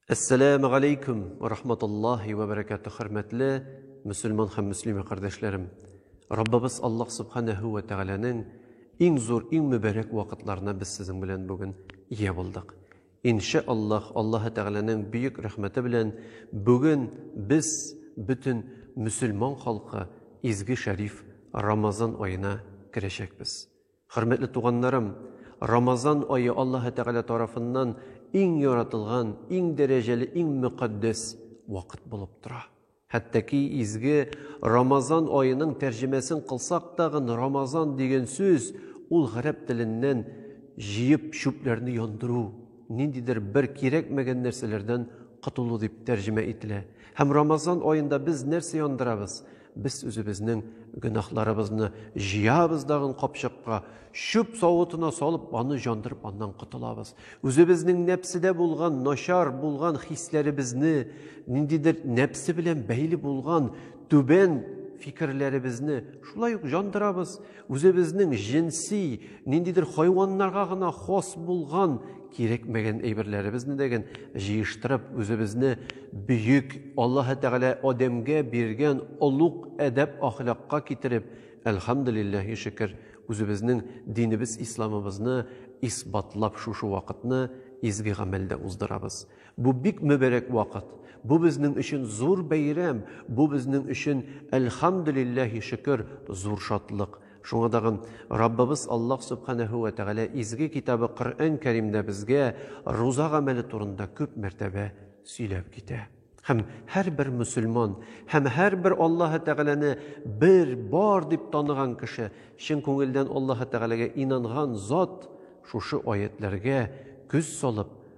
Әссәләмә галәйкүм вә рахматуллаһи вә бәрәкәтү хөрмәтле мөселман һәм мөслимә кардәшләрем. Раббыбыз Аллаһ Субханәһү вә Тәгаләнең иң зур, иң мөбарәк вакытларына без сезнең белән бүген ия булдык. Иншә Аллаһ, Аллаһы Тәгаләнең бөек рәхмәте белән бүген без бөтен мөселман халкы изге шәриф Рамазан аена керәчәкбез. Хөрмәтле туганнарым, Рамазан ае Аллаһы Тәгалә тарафыннан иң яратылган, иң дәрәҗәле, иң мөкатдәс вакыт булып тора. Хәтта ки изге Рамазан аеның тәрҗемәсен кылсак тагын, Рамазан дигән сүз, ул гарәп теленнән җыеп чүпләрне яндыру, ниндидер бер кирәкмәгән нәрсәләрдән котылу дип тәрҗемә ителә. Һәм Рамазан аенда без нәрсә яндырабыз? Без үзебезнең гөнаһларыбызны җыябыз дагын капчыкка, чүп савытына салып, аны җандырып, аннан котылабыз. Үзебезнең нәпседә булган, начар булган хисләребезне, ниндидер нәпсе белән бәйле булган түбән фикерләребезне шулай ук җандырабыз. Үзебезнең җенси, ниндидер хайваннарга гына хас булган кирәкмәгән әйберләребезне дә ген җыештырып, үзебезне бөек Аллаһы Тәгалә Адәмгә биргән олуг әдәп-ахлакка китереп, әлхәмдүлилләһи шөкер, үзебезнең динебез исламыбызны исбатлап шушы вакытны изге гамәлдә уздырабыз. Бу бик мөбәрәк вакыт. Бу безнең өчен зур бәйрәм, бу безнең өчен, әлхәмдүлилләһи шөкер, зур шатлык. Шуңа тагын Раббыбыз Аллаһ Сөбхәнәһү вә Тәгалә Изге Китабы Коръән Кәримдә безгә руза гамәле турында күп мәртәбә сөйләп китә. Һәм һәрбер мөселман һәм һәрбер Аллаһы Тәгаләне бер, бар дип таныган кеше, чын күңелдән Аллаһы Тәгаләгә инанган зат шушы аятьләргә күз салып,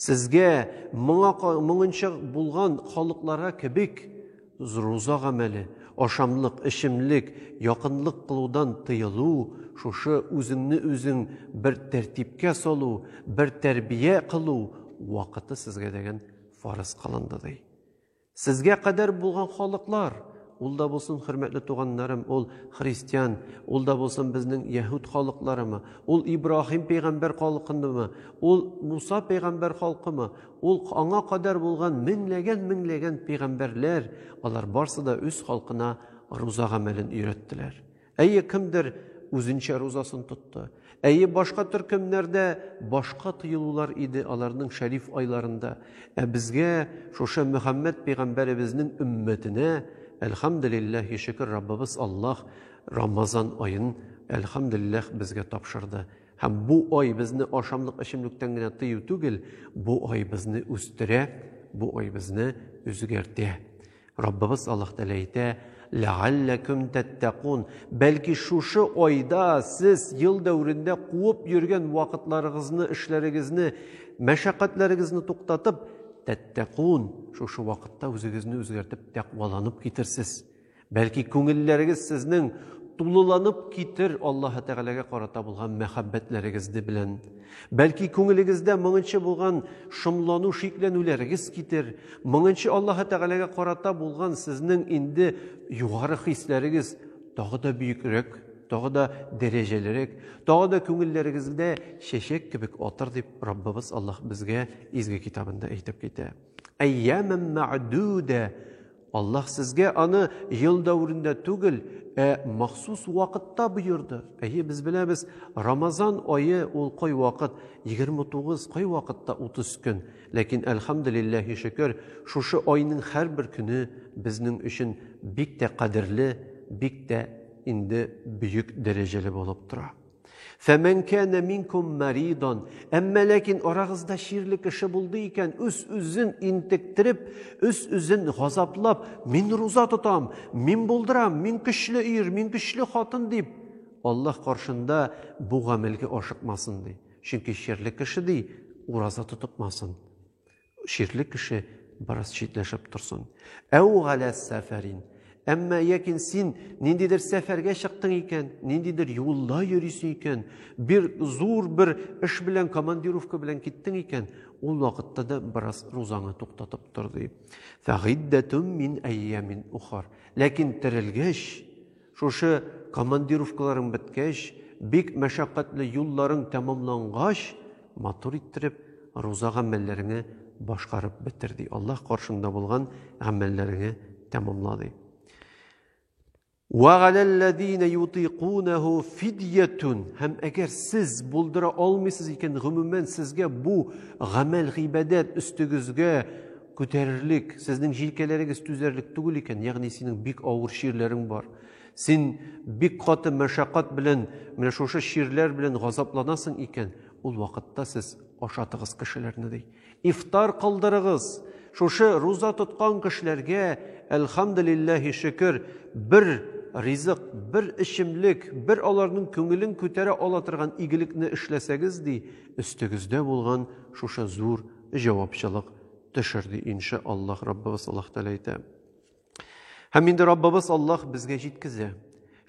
Сезгә моңа моңынча булган халыкларга кебек руза гамәле, ашамлык, эчемлек, якынлык кылудан тыелу, шушы үзеңне үзең бер тәртипкә салу, бер тәрбия кылу вакыты сезгә дәген фарыз кылынды, ди. Сезгә кадәр булган халыклар, ул да булсын хөрмәтле туганнарым, ул христиан, ул да булсын безнең яһүд халыкларымы, ул Ибраһим пәйгамбәр халкынымы, ул Муса пәйгамбәр халкымы, ул аңа кадәр булган меңләгән-меңләгән пәйгамбәрләр, алар барсы да үз халкына руза гамәлен өйрәттеләр. Әйе, кемдер үзенчә рузасын тотты. Әйе, башка төркемнәрдә башка тыелулар иде аларның шәриф айларында. Ә безгә, шушы Мөхәммәд пәйгамбәребезнең өммәтенә, әлхәмдүлилләһ, шөкер, Раббыбыз Аллаһ Рамазан аен, әлхәмдүлилләһ, безгә тапшырды. Һәм бу ай безне ашамлык-эчемлектән генә тыю түгел, бу ай безне үстерә, бу ай безне үзгәртә. Раббыбыз Аллаһ Тәгалә әйтә, Ләгалләкүм тәттәкун. Бәлки шушы айда сез ел дәверендә куып йөргән вакытларыгызны, эшләрегезне, мәшәкатьләрегезне туктатып, тәттәкун, шушы вакытта үзегезне үзгәртеп тәкъваланып китерсез. Бәлки күңелләрегез сезнең тулыланып китер Аллаһ Тәгаләгә карата булган мәхәббәтләрегезне белән. Бәлки күңелегездә моңынчы булган шомлану шикләнүләрегез китер, моңынчы Аллаһы Тәгаләгә карата булган сезнең инде югары хисләрегез тагы да бөекрәк, тагы да дәрәҗәлерәк, тагы да күңелләрегездә чәчәк кебек атыр дип Раббыбыз Аллаһ безгә изге китабында әйтеп китә. Әйямәм мәгъдүдә Аллаһ сезгә аны ел дәверендә түгел, ә махсус вакытта боерды. Әйе, без беләбез, Рамазан ае ул кой вакыт 29, кой вакытта 30 көн. Ләкин әлхәмдулиллаһи шөкер, шушы айның һәрбер көне безнең өчен бик тә кадерле, бик тә инде бөек дәрәҗәле булып тора. Фәмәнкәне минкум маридон. Әмма ләкин арагызда чирле кеше булды икән, үз үзен интектереп, үз үзен газаплап, мин руза тотам, мин булдырам, мин көчле ир, мин көчле хатын дип, Аллаһ каршында бу гамәлгә ашыкмасын ди. Чөнки чирле кеше ди, ураза тотыкмасын. Шикле кеше бераз читләшеп торсын. Әу галә сәфәрин. Әмма якин син ниндидер сәфәргә чыктың икән, ниндидер юлда йөрисең икән, бир зур бер эш белән, командировка белән киттең икән, ул вакытта да бераз рузаны туктатып тор ди. Фәгиддәтүм мин әйямин ухар. Ләкин терелгәч, Шушы командировкаларың беткәч, бик мәшәкатьле юлларың тәмамлангач, матур иттереп, руза гамәлләреңе башкарып бетер, ди. Аллаһ каршыңда булган гамәлләреңе тәмамла, ди. Вәгаләлләдине ютикунәһу фидиятун. Һәм әгәр сез булдыра алмыйсыз икән, гомумән сезгә бу гамәл гыйбадәт өстегезгә Күтәрерлек, сезнең җилкәләрегез түзәрлек түгел икән, ягъни синең бик авыр чирләрең бар. Син бик каты мәшәкать белән, менә шушы чирләр белән газапланасың икән, ул вакытта сез ашатыгыз кешеләрне ди. Ифтар кылдырыгыз. Шушы руза тоткан кешеләргә, әлхәмдулиллаһи шөкер, бер ризык, бер эчемлек, бер аларның күңелен күтәрә ала торган игелекне эшләсәгез ди, өстегездә булган шушы зур җавапчылык төшер, ди, инша Аллаһ, Раббыбыз Аллаһ Тәгалә әйтә. Һәм инде Раббыбыз Аллаһ безгә җиткезә.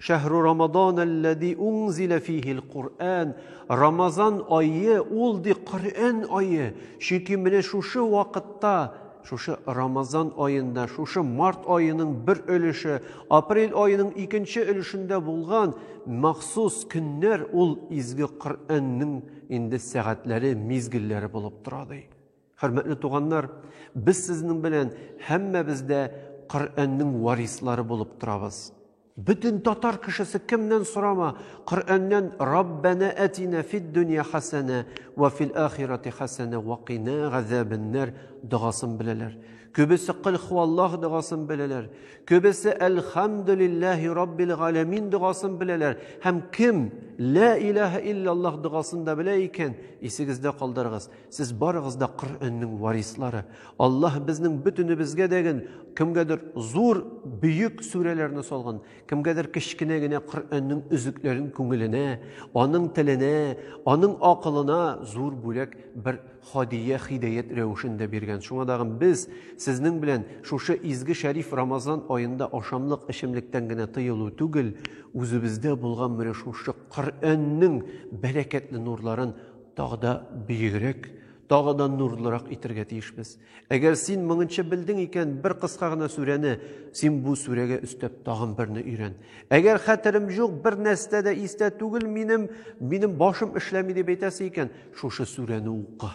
Шәһру Рамадан аллази унзила фихил Кур'ан. Рамазан айы ул ди Коръән айы. Чөнки менә шушы вакытта, шушы Рамазан аенда, шушы март аеның бер өлеше, апрель аеның икенче өлешендә булган махсус көннәр ул изге Коръәннең Инде сәгатьләре, мизгелләре булып тора ди. Хөрмәтле туганнар, без сезнең белән һәммәбез дә Коръәннең варислары булып торабыз. Бөтен татар кешесе кемнән сорама, Коръәннән Раббана атина фид дөнья хасана ва фил ахирати хасана ва кина газабаннар дугасын беләләр. Күбесе кыл хуаллах дугасын беләләр. Көбесе Әлхамдулиллахи Раббил Галәмин догасын беләләр. Һәм кем Лә илаһа иллаллах догасын да белә икән, исегездә калдырыгыз. Сез барыгыз да Коръәннең варислары. Аллаһ безнең бөтенебезгә дәген, кемгәдер зур, бөек сүрәләрне салган, кемгәдер кечкенә генә Коръәннең үзекләрен күңеленә, аның теленә, аның акылына зур бүләк бер Һадия хидәят рәвешендә биргән. Шуңа тагын без сезнең белән шушы изге шәриф Рамазан аенда ашамлык, эчемлектән генә тыелу түгел, үзебездә булган менә шушы Коръәннең бәрәкәтле нурларын тагы да биегрәк, тагы да нурлырак итергә тиешбез. Әгәр син моңынча белдең икән, бер кыска гына сүрәне, син бу сүрәгә өстәп тагын берне өйрән. Әгәр хәтерем җук, бер нәрсә дә истә түгел минем, минем башым эшләми дип әйтәсе икән, Шушы сүрәне укы.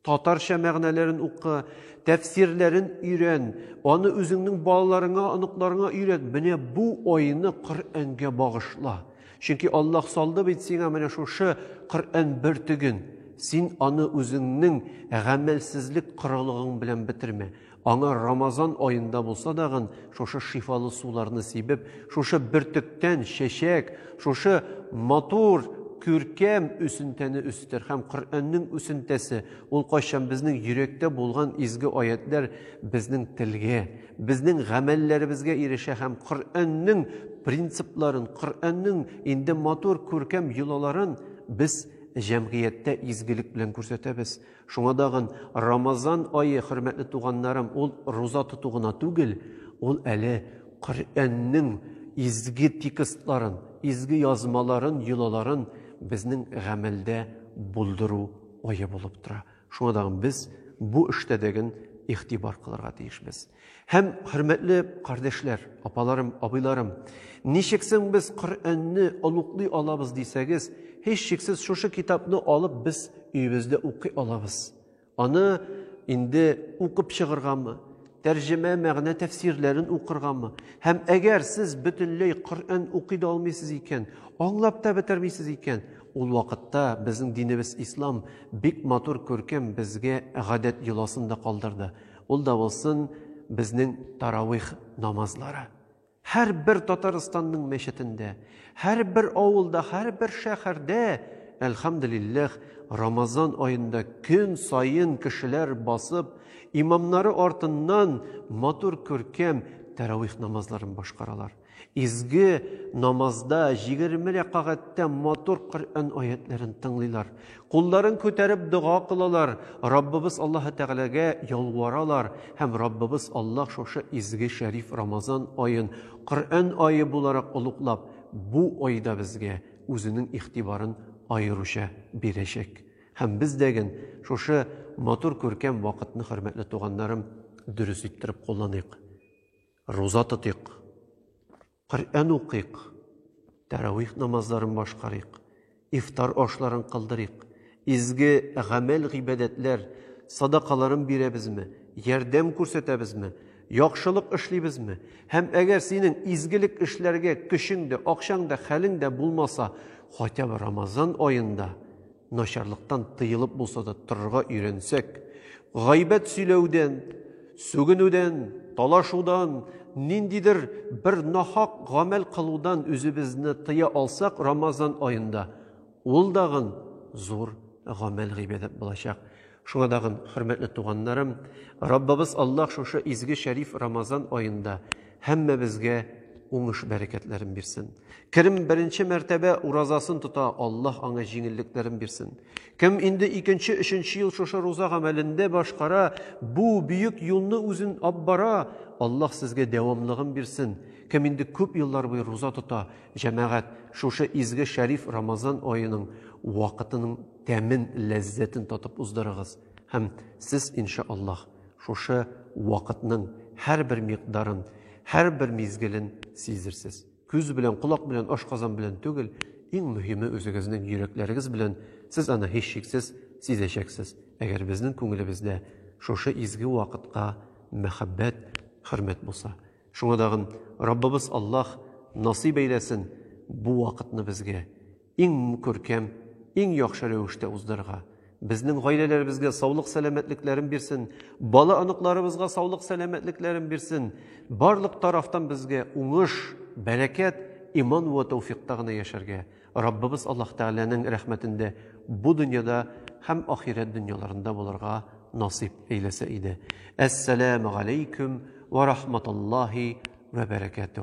Татарча мәгънәләрен укы, тәфсирләрен өйрән, аны үзеңнең балаларыңа, оныкларыңа өйрәт. Менә бу айны Коръәнгә багышла. Чөнки Аллаһ салды бит сиңа менә шушы Коръән бөртеген. Син аны үзеңнең гамәлсезлек корылыгың белән бетермә. Аңа Рамазан аенда булса дагын шушы шифалы суларны сибеп, шушы бөртектән чәчәк, шушы матур күркәм үсентәне үстер һәм Коръәннең үсентәсе, ул кайчан безнең йөрәктә булган изге аятлар безнең телгә, безнең гамәлләребезгә ирешә һәм Коръәннең принципларын, Коръәннең инде матур күркәм йолаларын без җәмгыятьтә изгелек белән күрсәтәбез. Шуңа дагын Рамазан ае, хөрмәтле туганнарым, ул руза тоту гына түгел, ул әле Коръәннең изге текстларын, изге язмаларын, йолаларын безнең гамәлдә булдыру ае булып тора. Шуңа дагын без бу эштә дәген игътибар кылырга тиешбез. Һәм, хөрмәтле кардәшләр, апаларым, абыйларым, ничек соң без Коръәнне олуглый алабыз дисәгез, һичшиксез шушы китапны алып без өебездә укый алабыз. Аны инде укып чыгыргамы, тәрҗемә мәгънә тәфсирләрен укыргамы? Һәм әгәр сез бөтенләй Коръән укый да алмыйсыз икән, аңлап та бетермисез икән, ул вакытта безнең динебез ислам бик матур күркәм безгә гадәт йоласын да калдырды. Ул да булсын безнең таравих намазлары. Һәрбер Татарстанның мәчетендә, һәрбер авылда, һәрбер шәһәрдә, әлхәмдулилләх, Рамазан аенда көн саен кешеләр басып, имамнары артыннан матур күркәм таравих намазларын башкаралар. Изге намазда җигерме рәкагатьтә матур Коръән аятьләрен тыңлыйлар. Кулларын күтәреп дога кылалар, Раббыбыз Аллаһы Тәгаләгә ялваралар һәм Раббыбыз Аллаһ шушы изге шәриф Рамазан аен Коръән ае буларак олуглап, бу айда безгә үзенең игътибарын аеруча бирәчәк. Һәм без дәген шушы матур күркәм вакытны, хөрмәтле туганнарым, дөрес иттереп кулланыйк. Руза тотыйк, Коръән укыйк, тәравих намазларын башкарыйк, ифтар ашларын кылдырыйк, изге гамәл-гыйбадәтләр, садакаларын бирәбезме, ярдәм күрсәтәбезме, яхшылык эшлибезме? Һәм әгәр синең изгелек эшләргә көчең дә, акчаң да, хәлең дә булмаса, хотя бы Рамазан аенда Начарлыктан тыелып булса да торырга өйрәнсәк, гайбәт сөйләүдән, сүгенүдән, талашудан, ниндидер бер нахак гамәл кылудан үзебезне тыя алсак, Рамазан аенда ул дагын зур гамәл гыйбадәт булачак. Шуңа дагын, хөрмәтле туганнарым, Раббыбыз Аллаһ шушы изге шәриф Рамазан аенда Һәммәбезгә уңыш бәрәкәтләрен бирсен. Кем беренче мәртәбә уразасын тота, Аллаһ аңа җиңеллекләрен бирсен. Кем инде икенче, өченче ел шушы руза гамәлендә башкара, бу бөек юлны үзен ап бара, Аллаһ сезгә дәвамлыгын бирсен. Кем инде күп еллар буе руза тота, җәмәгать, шушы изге шәриф Рамазан аеның вакытының тәмен, ләззәтен татып уздырыгыз. Һәм сез, иншааллаһ, Шушы вакытның һәрбер микъдарын, һәрбер мизгелен сизерсез. Күз белән, колак белән, ашказан белән түгел, иң мөһиме үзегезнең йөрәкләрегез белән сез аны һичшиксез сизәчәксез, әгәр безнең күңелебездә шушы изге вакытка мәхәббәт, хөрмәт булса. Шуңа дагын Раббыбыз Аллаһ насыйп әйләсен бу вакытны безгә. иң күркәм, иң яхшы рәвештә уздырырга, безнең гаиләләребезгә саулык-сәламәтлекләрен бирсен, бала-оныкларыбызга саулык-сәламәтлекләрен бирсен, барлык тарафтан безгә уңыш, бәрәкәт, иман вә тәүфикъта гына яшәргә, Раббыбыз Аллаһ Тәгаләнең рәхмәтендә бу дөньяда һәм ахирәт дөньяларында булырга насыйп әйләсә иде. Әссәләмегаләйкүм вә рахматуллаһи вә бәрәкәтүһ.